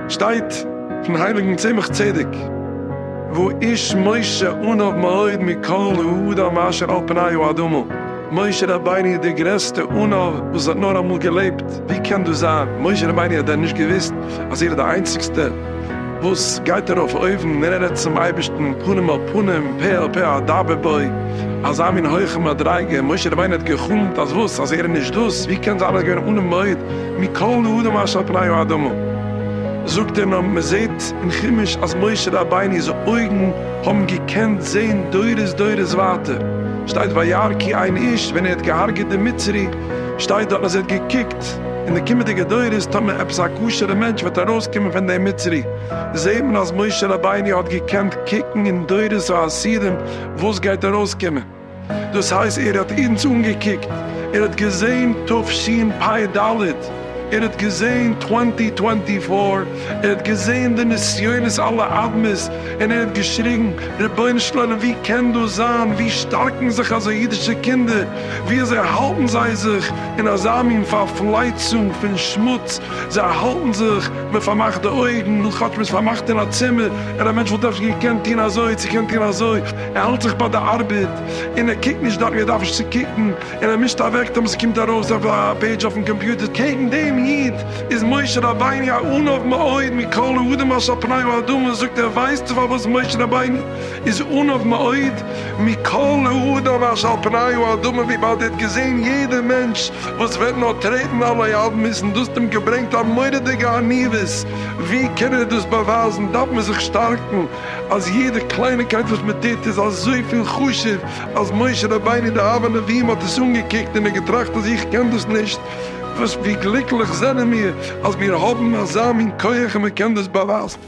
שטייט פון הייליגן צמח צדק והוא איש משה ענוו מאוד מכל האדם אשר על פני האדמה, משה רבינו איז דער גרעסטע ענוו וואס האט נאר אמאל געלעבט, ווי קען דאס זיין, משה רבינו האט דען נישט געוויסט אז ער איז די איינציגסטע? וואס גייט ארויף אויבן און רעדט צום אייבערשטן פנים אל פנים, פה אל פה אדבר בו, אזא מין הויכע מדריגה, משה רבינו האט גע'חלומ'ט אז וואס? אז ער איז נישט דאס? ווי קען זיין אז ער איז געווען אן מויד מכל האדם אשר על פני האדמה? זאגט ער נאר מען זעט אין חומש אז משה רבינו'ס אויגן האבן געקענט זען דורות דורות ווייטער, שטייט וירא כי אין איש ווען ער האט געהארגעט די מצרי שטייט דארט אז ער האט געקוקט, געהאט אין די קומעדיגע דורות, טאמער עפעס א כשר'ע מענטש וועט ארויסקומען פון דעם מצרי, זעט מען אז משה רבינו האט געקענט קוקן אין דורות העשירים וואס גייט ארויסקומען, דאס הייסט ער האט אונז אנגעקוקט, ער האט געזען תשפ ד, ער האט געזען טווענטי טווענטי פאר, ער האט געזען די נסיונות אלע אדמות, און ער האט געשריגן, רבונו של עולם ווי קען דאס זיין, ווי שטארקן זיך אזוי אידישע קינדער, ווי אזוי האלטן זיי זיך, אין אזא מין פארפלייצונג פון שמוץ, זיי האלטן זיך, מען פארמאכט די אויגן, נו כאטש מען איז פארמאכט אין א צימער, ער א מענטש וואלט אפשר געקענט טון אזוי, צו קענט טון אזוי, ער האלט זיך ביי די ארבעט, און ער קוקט נישט דארט ווי ער דארף נישט צו קוקן, און ער מישט אוועק תמיד ס'קומט ארויס אויף א פעידזש אויפן קאמפיוטער, קעגן דעם איד איז משה רבינו א עניו מאוד מכל האדם אשר על פני האדמה, זאגט ער ווייסטו פארוואס משה רבינו איז עניו מאוד מכל להודיו אש על פניו האדמה וויבאלד ער האט געזעהן יעדע מענטש וואס וועט נאר טרעטן עלי אדמות און דאס האט אים געברענגט א מורא'דיגע עניוות, ווי קען ער דאס באווייזן דארף מען זיך שטארקן אז יעדע קלייניקייט וואס מען טוט איז אזויפיל חשוב אז משה רבינו די אב הנביאים האט עס אנגעקוקט און ער געטראכט אז איך קען דאס נישט וואס ווי גליקליך זענען מיר אז מיר האבן אזא מין כח און מען קען דאס באווייזן.